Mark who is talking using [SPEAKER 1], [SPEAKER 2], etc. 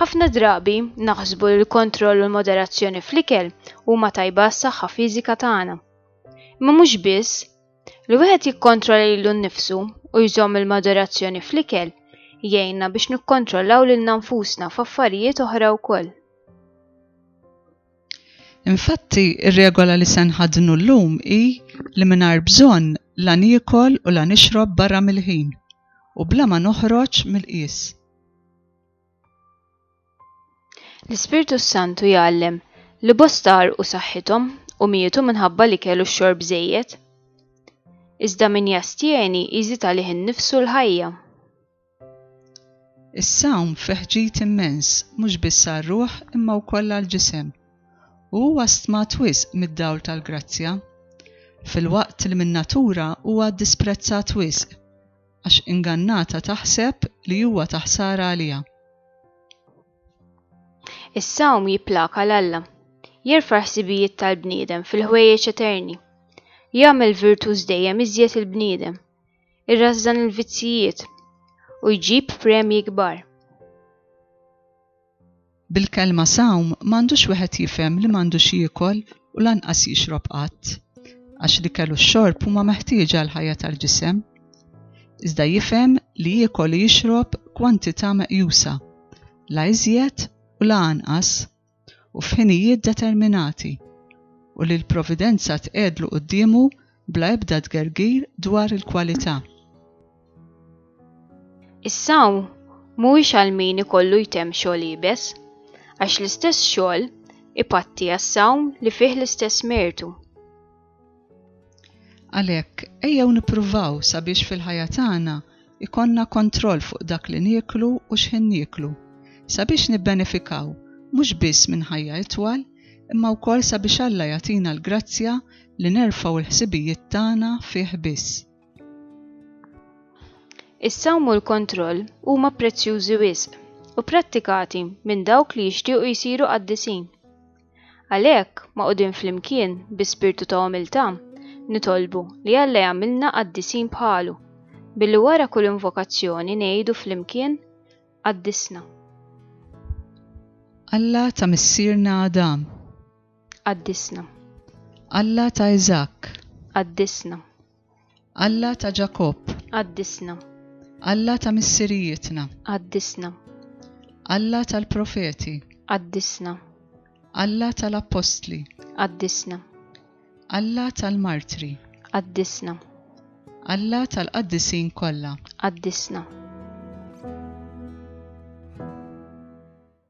[SPEAKER 1] Ħafna
[SPEAKER 2] drabi naħsbu li l-kontroll u l-moderazzjoni fl-ikel huma tajba s-saħħa fiżika tagħna. Imma mhux biss, li wieħed jikkontrolla lilu nnifsu u jżomm il-moderazzjoni fl-ikel jgħinna biex nikkontrollaw lil nfusna f'affarijiet oħra wkoll.
[SPEAKER 1] Infatti, ir-regola li se nħaddnu llum hi li mingħajr bżonn la niekol u la nixrob barra mill-ħin u bla ma noħroġ mill-qies.
[SPEAKER 2] L-Ispirtu s-Santu jgħallem li bosta u saħħithom u mietu minħabba li kellu x-xorb żejjed. Iżda min jastjeni jżid għalih innifsu l-ħajja.
[SPEAKER 1] Is-sawm fih ġid immens mhux biss għar-ruħ imma wkoll għall-ġisem. U huwa stmat wisq mid-dawl tal-grazzja, filwaqt li min-natura huwa disprezzat wisq. għax ingannata taħseb li huwa ta' ħsara għaliha.
[SPEAKER 2] Is-sawm jipplaka l-Alla. Jerfa' ħsibijiet tal-bniedem fil-ħwejjeġ eterni. Jagħmel virtuż dejjem iżjed il-bniedem. Irrażżan il-vizzijiet u jġib premji kbar.
[SPEAKER 1] Bil-kelma sawm m'għandux wieħed jifhem li m'għandux jiekol u lanqas jixrob qatt, għax l-ikel u x-xorb huma meħtieġa għall-ħajja tal-ġisem. Iżda jifhem li jiekol u jixrob kwantità meqjusa, la iżjed u la anqas, u f'ħinijiet determinati, u li l-Providenza tqegħedlu quddiemu bla ebda tgergir dwar il-kwalità.
[SPEAKER 2] Is-sawm mhuwiex għal min ikollu jtemm xogħol iebes, għax l-istess xogħol ipatti għas-sawm li fih l-istess mertu.
[SPEAKER 1] Għalhekk, ejjew nippruvaw sabiex fil-ħajja tagħna ikollna kontroll fuq dak li nieklu u x'ħin nieklu, sabiex nibbenefikaw mhux biss minn ħajja itwal, imma wkoll sabiex Alla jagħtina l-grazzja li nerfgħu l-ħsibijiet tagħna fih biss.
[SPEAKER 2] Is-sawm u l-kontroll huma prezzjużi wisq u prattikati minn dawk li jixtiequ jsiru qaddisin. Għalhekk, magħqudin flimkien bi spirtu ta' umiltà, nitolbu li Alla jagħmilna qaddisin bħalu, billi wara kull invokazzjoni ngħidu flimkien, Qaddisna.
[SPEAKER 1] Alla ta' missierna Adam. Qaddisna. Alla ta' Iżakk. Qaddisna. Alla ta' Ġakobb. Qaddisna.
[SPEAKER 2] Alla
[SPEAKER 1] ta' missirijietna. Qaddisna.
[SPEAKER 2] Alla
[SPEAKER 1] tal-profeti. Qaddisna.
[SPEAKER 2] Alla
[SPEAKER 1] tal-appostli. Qaddisna.
[SPEAKER 2] Alla
[SPEAKER 1] tal-martri. Qaddisna. Alla
[SPEAKER 2] tal-qaddisin
[SPEAKER 1] kollha. Qaddisna.